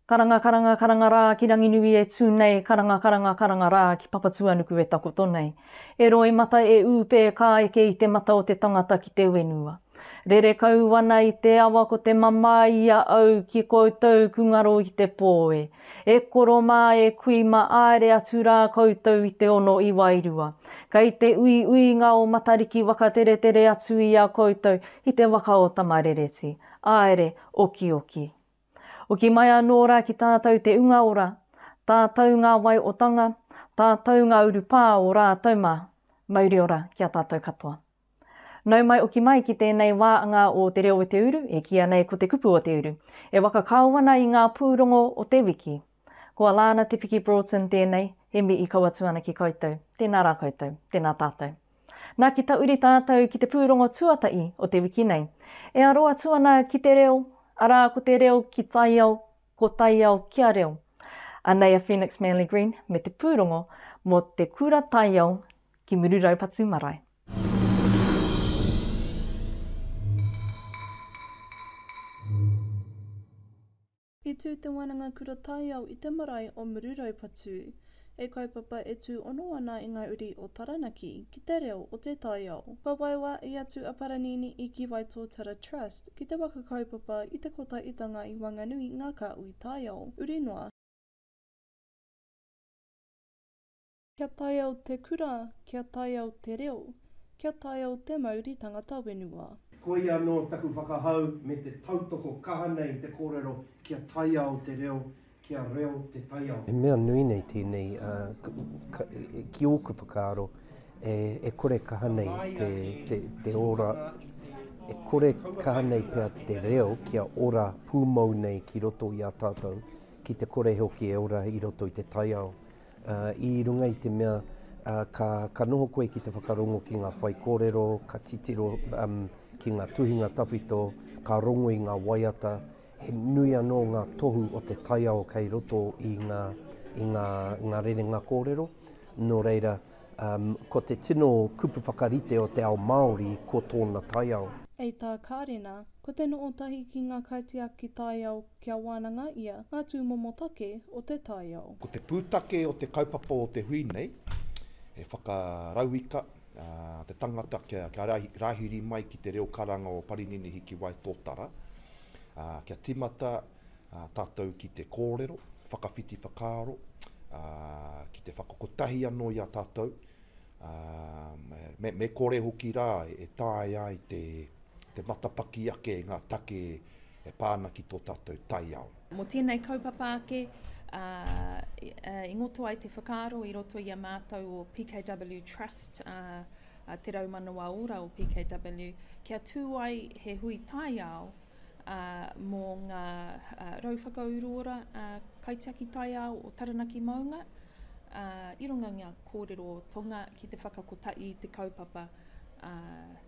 Karanga karanga karanga rā ki Ranginui e tū nei Karanga karanga karanga rā ki Papatuanuku e takoto nei E roimata e ūpē ka eke i te mata o te tangata ki te wenua Rere kau wana i te awa ko te mamae i a au ki koutou ku ngaro i te pō e E koro mā, e kui mā, āere atu rā koutou i te ono i wairua. Kei te uiuinga o Matariki wakateretere atu i a koutou i te waka o Tamarereti. Āere, okioki. Oki mai anō rā ki tātou te unga ora, tātou ngā wai o Tanga, tātou ngā urupā o rātou mā. Mauriora ki a tātou katoa. Nau mai oki mai ki tēnei wāanga o Te Reo o Te Uru, e kīia nei ko Te Kupu o Te Uru. E waka kāo ana i ngā pūrongo o te wiki. Ko a Lana Te Piki Broughton tēnei, he mi i kau atu ana ki koutou. Tēnā rā koutou. Tēnā tātou. Nā ki tauri tātou ki te pūrongo tuatahi o te wiki nei. E aro atu ana ki te reo, arā ko te reo ki taiao, ko taiao kia reo. Anei a Phoenix Manley Green me te pūrongo mō te kura taiao ki Mururaupatu marae. I tū te Wānanga Kura Taiao i te marae o Mururaupatu. He kaupapa e tū ono ana i ngā uri o Taranaki ki te reo o te taiao. Kua waiwā i atu a Paranini i Ki Waitōtara Trust ki te waka kaupapa i te Kotahitanga i Wanganui ngā Kāhui Taiao, uri noa, Kia taiao te kura, kia taiao te reo, kia taiao te mauri tangata wenua. Koia anō taku whakahau me te tautoko kaha nei i te kōrero kia taiao te reo, kia reo te taiao. He mea nui nei tēnei, ā, ka, ki ōku whakaaro, e, e kore kaha nei te, te, te ora, e kore kaha nei pea te reo kia ora pūmau nei ki roto i a tātou, ki te kore hoki e ora i roto i te taiao. I runga i te mea ka noho koe ki te whakarongo ki ngā whaikōrero, ka titiro ki ngā tuhinga tawhito, ka rongo i ngā waiata, he nui anō ngā tohu o te taiao kei roto i ngā rerenga kōrero. Nō reira, ko te tino kupu whakarite o te ao Māori ko tōna taiao. Hei tā Karena, ko te noho tahi ki ngā kaitiaki taiao Kia wānanga ia ngā tūmomo take o te taiao. Ko te pūtake o te kaupapa o te hui nei, he whakarauika te tangata kia rāhiri mai ki te reo karanga o Parinini Hikiwaitotara, kia tīmata tātou ki te kōrero, whakawhiti whakaaro, ki te whakakotahi anō i a tātou, ā, me, me kore hoki rā e taea ai te, te matapaki ake i ngā take e pā ana ki tō tātou taiao. Mō tēnei kaupapa ake, ā, i ngoto ai te whakaaro i roto i a mātou o PKW Trust, ā, ā Te Rau Manawa Ora o PKW, kia tū ai he hui taiao, ā, mō ngā, ā, rau whakauruora, ā, kaitiaki taiao o Taranaki Maunga, ā, i runga i ngā. Kōrero o Tonga ki te whakakotahi i te kaupapa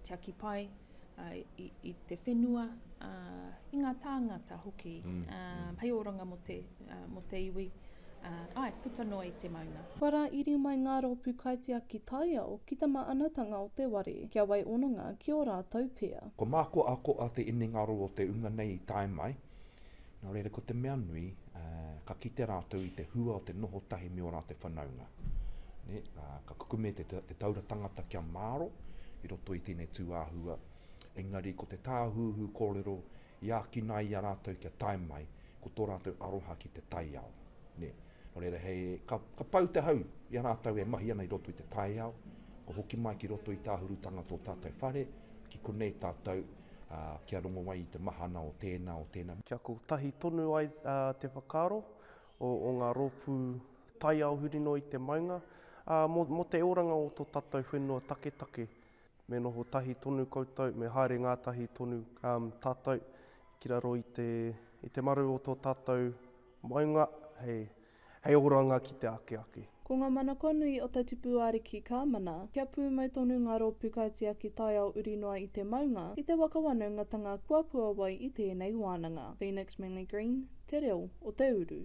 tiaki pai i te whenua, i ngā tāngata hoki hei oranga mō te iwi, āe, puta noa i te maunga. Kua rā iri mai ngā rōpū kaitiaki taiao ki te māanatanga o te ware, kia wai ononga ki ō rātou pia. Kua mākoakoa te inengaro o te unga nei i tae mai, Nō reira, ko te mea nui, ka kite rātou i te hua o te noho tahi me ō rātou whanaunga. Ka kukume te taura tangata kia māro i roto i tēnei tū āhua, engari ko te tāhuhu kōrero i ākina ai i a rātou kia tae mai, ko tō rātou aroha ki te taiao. Nō reira, ka pau te hau i a rātou e mahi ana i roto i te taiao, kua hoki mai ki roto i te āhurutanga tō tātou whare, ki konei tātou, ā, kia rongo ai i te mahana o tēnā, o tēnā. Kia kotahi tonu ai te whakaaro o ngā rōpū taiao huri noa i te maunga, ā, mō te oranga o tō tātou whenua taketake, me noho tahi tonu koutou, me haere ngātahi tonu tātou ki raro i te maru o tō tātou maunga, hei. Hei oranga ki te ake ake. Ko ngā manako nui o te tipu ariki ka mana, kia pūmau tonu ngā rōpū kaitiaki taiao uri noa i te maunga, i te waka wanaungatanga kua puawai i tēnei wānanga. Phoenix Manly Green, Te Reo o te Uru.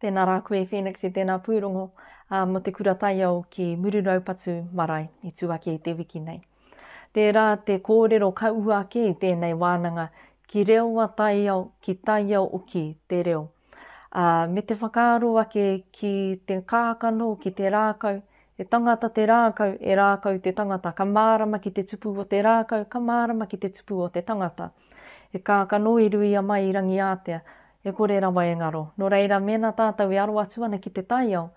Tēnā rā koe Phoenix i tēnā pūrongo mō te kura taiao ki Mururaupatu marae i tū ake i te wiki nei. Tērā te kōrero ka ū ake i tēnei wānanga ki reoa taiao, ki taiao oki te reo. Ā, me te whakaaro ake ki te kākano, ki te rākau, he tangata te rākau, e rākau te tangata, ka mārama ki te tupu o te rākau, ka mārama ki te tupu o te tangata. He kākano i ruia mai i Rangiātea, E kore rawa e ngaro. Nō reira, mēnā tātou e aro atu ana ki te taiao,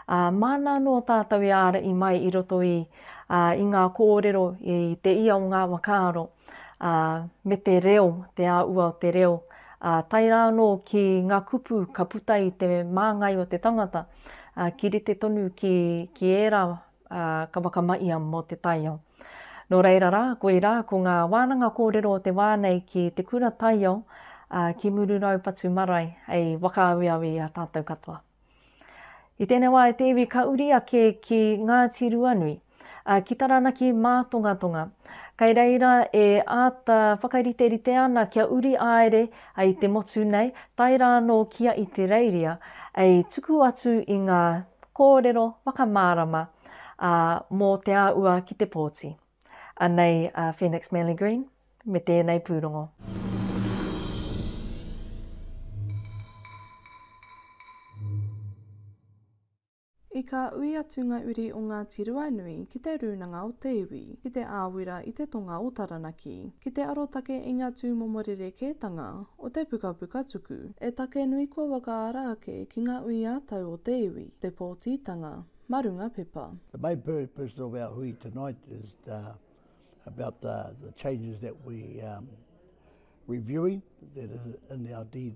ā, māna anō tātou e āra i mai i roto i, ā, i ngā kōrero, i te ia o ngā whakaaro, ā, me te reo, te āua o te reo, ā, tae rā anō ki ngā kupu ka puta i te māngai o te tangata, ā, ki rite tonu ki, ki ērā ā, ka wakama ia mō te taiao. Nō reira rā, koirā, ko ngā wānanga kōrero o te wā nei ki te kura taiao, ā, ki Mururoupatu marae, hei whakaaweawe i a tātou katoa. I tēnei wā e te iwi ka uri ake ki Ngāti Ruanui, ā, ki Taranaki Mātongatonga. Kei reira e āta whakariterite ana kia uri āere I te motu nei, tae rā anō kia i te Reiria, ei tuku atu i ngā kōrero whakamārama ā mō te āua ki te pōti. Anei a Phoenix Manly Green me tēnei pūrongo. I kā ui atu ngā uri o Ngāti Ruanui ki te rūnanga o te iwi, ki te āwira i te tonga o Taranaki, ki te arotake i ngā tūmomo rerekētanga o te pukapuka tuku, e take nui kua wakaara ake ki ngā ui ā-tau o te iwi, te pōtitanga, mā runga pepa. The main purpose of our hui tonight is about the changes that we reviewing that is in our deed.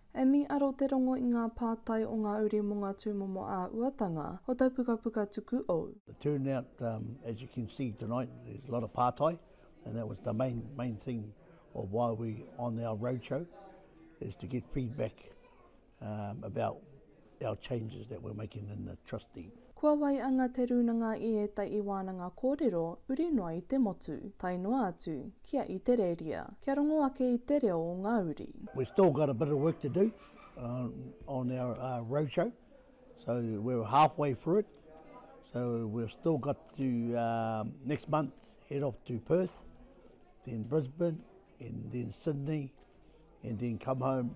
E mī aro te rongo i ngā pātai o ngā uri mō ngā tūmomo āhuatanga o tau pukapuka tuku ou. The turnout as you can see tonight there's a lot of pātai and that was the main main thing of why we on our roadshow is to get feedback about our changes that we're making in the trustee. Kua waianga te rūnanga i ētahi wānanga kōrero uri noa i te motu, tae noa atu ki a Itereria, kia rongo ake i te reo o ngā uri. We've still got a bit of work to do on our roadshow, so we're halfway through it, so we've still got to next month head off to Perth, then Brisbane, and then Sydney, and then come home,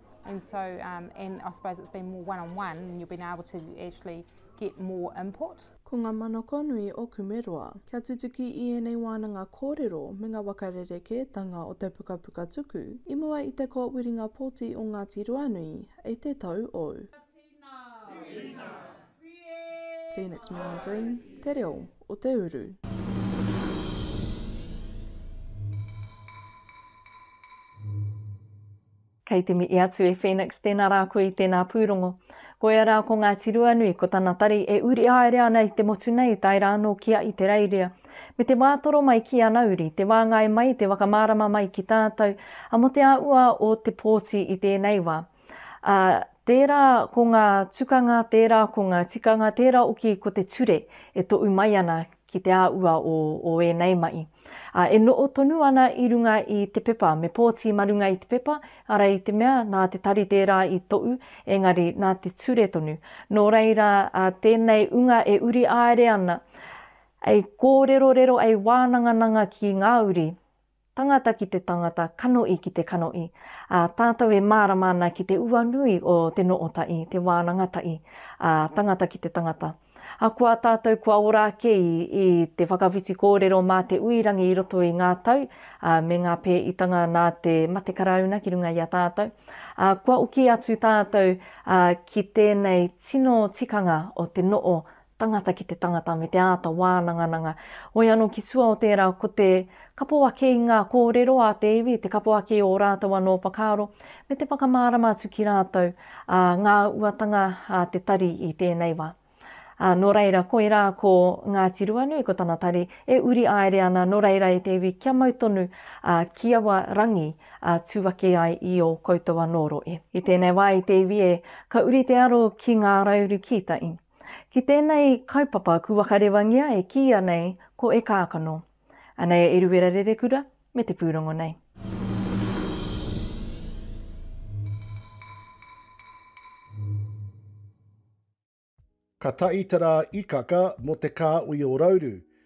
And so, um, and I suppose it's been more one on one, and you've been able to actually get more input. Ko ngā manako nui o Kumeroa, kia tutuki i ēnei wānanga kōrero me ngā waka rerekētanga o te pukapuka tuku i mua i te kōwiringa pōti o Ngāti Ruanui i te tau o. Phoenix Meagher Green, Te Reo o Te Uru. Kei te mihi atu e Phoenix tēnā rā koe i tēnā pūrongo. Koia rā ko Ngāti Ruanui, ko tana tari e uri haere ana i te motu nei tae rā anō ki a Itereiria. Me te wātoro mai ki ana uri, te wāngai mai, te whakamārama mai ki tātou, a mo te āhua o te pōti i tēnei wā. A, tērā ko ngā tukanga, tērā ko ngā tikanga, tērā oki ko te ture e toʻu mai ana ki te āua o, o ēnei mahi. Ā, e noho tonu ana i runga i te pepa, me pōti ma runga i te pepa, ara i te mea, nā te tari tērā i tohu, engari nā te ture tonu. Nō reira, ā, tēnei unga e uri āere ana, ei kōrerorero, ei wānangananga ki ngā uri, Tangata ki te tangata, kanoʻi ki te kanoʻi, a tātou e mārama ana ki te ua nui o te nootaʻi, te wānanga taʻi, a tangata ki te tangata. A ko a tātou kua ora ake i, i te whakawhiti kōrero mā te ui rangi i roto i ngā tau, a me ngā pēitanga nā te mate Karauna ki runga i a tātou, a kua oki atu tātou, a ki tēnei tino tikanga o te noo tangata ki te tangata me te āta wānangananga. Hoi anō ki tua o tērā ko te kapo ake i ngā kōrero a te iwi, te kapo ake i ō rātou anō whakaaro, me te whakamārama atu ki rātou, ā, ngā uatanga a te tari i tēnei wā. Ā, nō reira, koirā ko Ngāti Ruanui, ko tana tari, e uri aere ana, nō reira e te iwi, kia mau tonu, ā, ki aua rangi, ā, tū ake ai i ō koutou anō rohe. I tēnei wā i te iwi e, ka uri te aro ki ngā rauru kīta i. Ki tēnei kaupapa kua whakarewangia e kīia nei ko E Kākano. Anei a Eruera Rerekura me te pūrongo nei. Ka taitara Ikaka mō te kāhui o Rauru,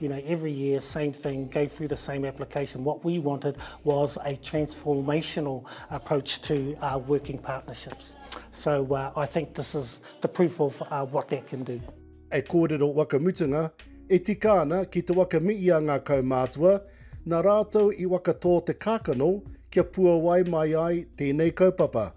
You know, every year, same thing, go through the same application. What we wanted was a transformational approach to uh, working partnerships. So uh, I think this is the proof of uh, what that can do. E kōrero wakamutunga, e tika ana ki te wakamiia ngā kaumātua, nā rātou i wakatō te kākano kia puawai mai ai tēnei kaupapa.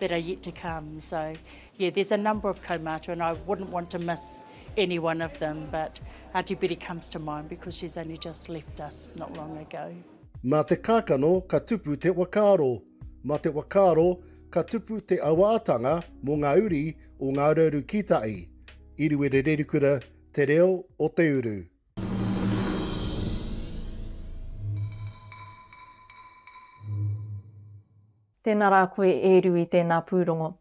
that are yet to come. So, yeah, there's a number of kaumātua, and I wouldn't want to miss any one of them, but Auntie Betty comes to mind because she's only just left us not long ago. Mā te kākano ka tupu te whakaaro, mā te whakaaro ka tupu te awaatanga mō ngā uri o Ngā Urauru Kītai. Iriwere Rerikura, Te Reo o Te Uru. Tēnā rā koe e Rui tēnā pūrongo.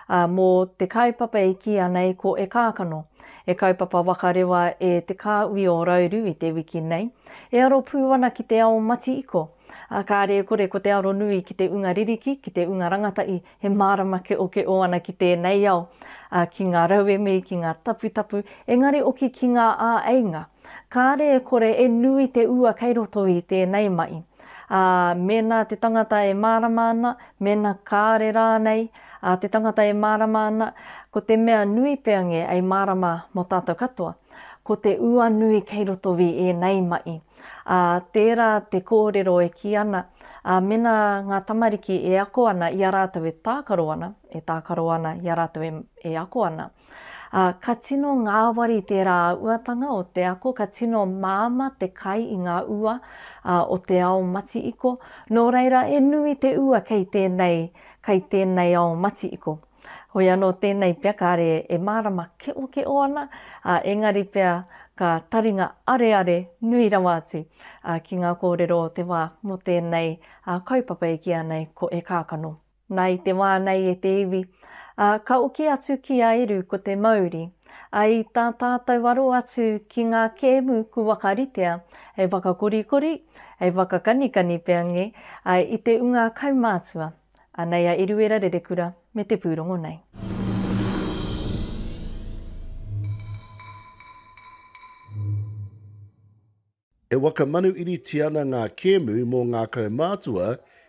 Ā, mō te kaupapa e kīia nei ko E Kākano, he kaupapa waka rewa e Te Kāhui o Rauru i te wiki nei. E aro pū ana ki te ao mati-iko. Ā, kāre e kore ko te aro nui ki te unga ririki, ki te unga rangatahi, he mārama keʻokeʻo ana ki tēnei ao, ā, ki ngā rauemi, ki ngā taputapu, engari oki ki ngā āeinga. Kāre e kore e nui te ua kei roto i tēnei mahi. Ā, mēnā te tangata e mārama ana, mēnā kāore rānei a te tangata e mārama ana, ko te mea nui pea nge ei mārama mo tātou katoa, ko te ua nui kei roto i ēnei maʻi. Ā, tērā te kōrero e kī ana, ā, mēnā ngā tamariki e ako ana i a rātou e tākaro ana, e tākaro ana i a rātou e, e ako ana, Ā, ka tino ngāwari tērā uatanga o te ako, ka tino māmā te kai i ngā ua o te ao mati-iko, nō reira e nui te ua kei tēnei, kei tēnei ao mati-iko. Hoi anō tēnei pea kāre e mārama keokeō ana, ā, engari pea ka taringa areare nui rawa atu ki ngā kōrero o te wā mō tēnei kaupapa e kīa nei ko E Kākano. Na i te wā nei e te iwi, a, ka oki atu ki a Eru ko te mauri, a i tā tātou aro atu ki ngā kēmu ku wakaritea hei whakakorikori, hei whakakanikani peange, a, i te unga kaumātua, anei a Eruera Rerekura me te pūrongo nei. E wakamanuiritia ana ngā kēmu mō ngā kaumātua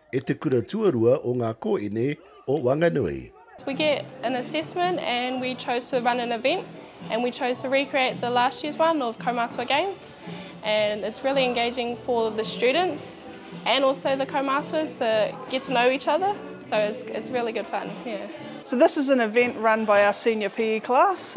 e te kura tuarua o ngā kōini o Wanganui. We get an assessment and we chose to run an event and we chose to recreate the last year's one of Kaumātua Games and it's really engaging for the students and also the kaumātuas to get to know each other so it's it's really good fun, yeah. So this is an event run by our senior PE class.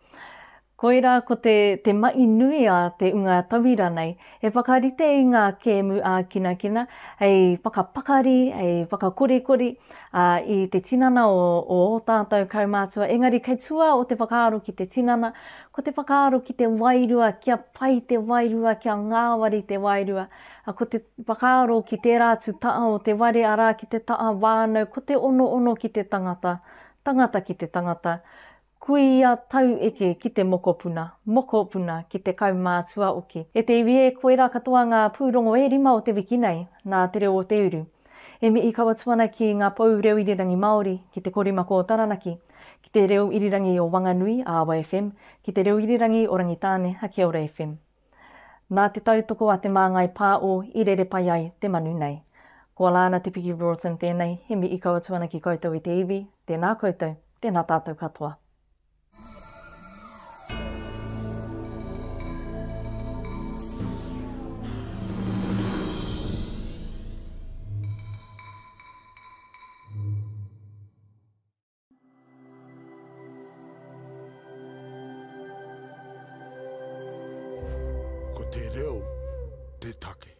Koirā ko te te maʻi nui a te unga tauira nei, he whakarite i ngā kēmu ā-kinakina hei whakapakari, hei whakakorikori, ā, i te tinana o, o ō tātou kaumātua. Engari kei tua o te whakaaro ki te tinana, ko te whakaaro ki te wairua, kia pai te wairua, kia ngāwari te wairua. Ā, ko te whakaaro ki tērā atu taha o te ware, arā, ki te taha whānau, ko te onoono ki te tangata, tangata ki te tangata, Kuia tau eke ki te mokopuna, mokopuna ki te kaumātua oki. E te iwi e, koirā katoa ngā pūrongo e rima o te wiki nei, nā Te Reo o te Uru. E mihi kau atu ana ki ngā pou reo irirangi Māori, ki te korimako o Taranaki, ki te reo irirangi o Wanganui, Awa FM, ki te reo irirangi o Rangitāne, a Kia Ora FM. Nā te tautoko a Te Māngai Pā o I rere pai ai te manu nei. Ko Alana Te Piki Broughton tēnei, he mihi kau atu ana ki koutou i te iwi, tēnā koutou, tēnā tātou katoa. Ko te reo te take.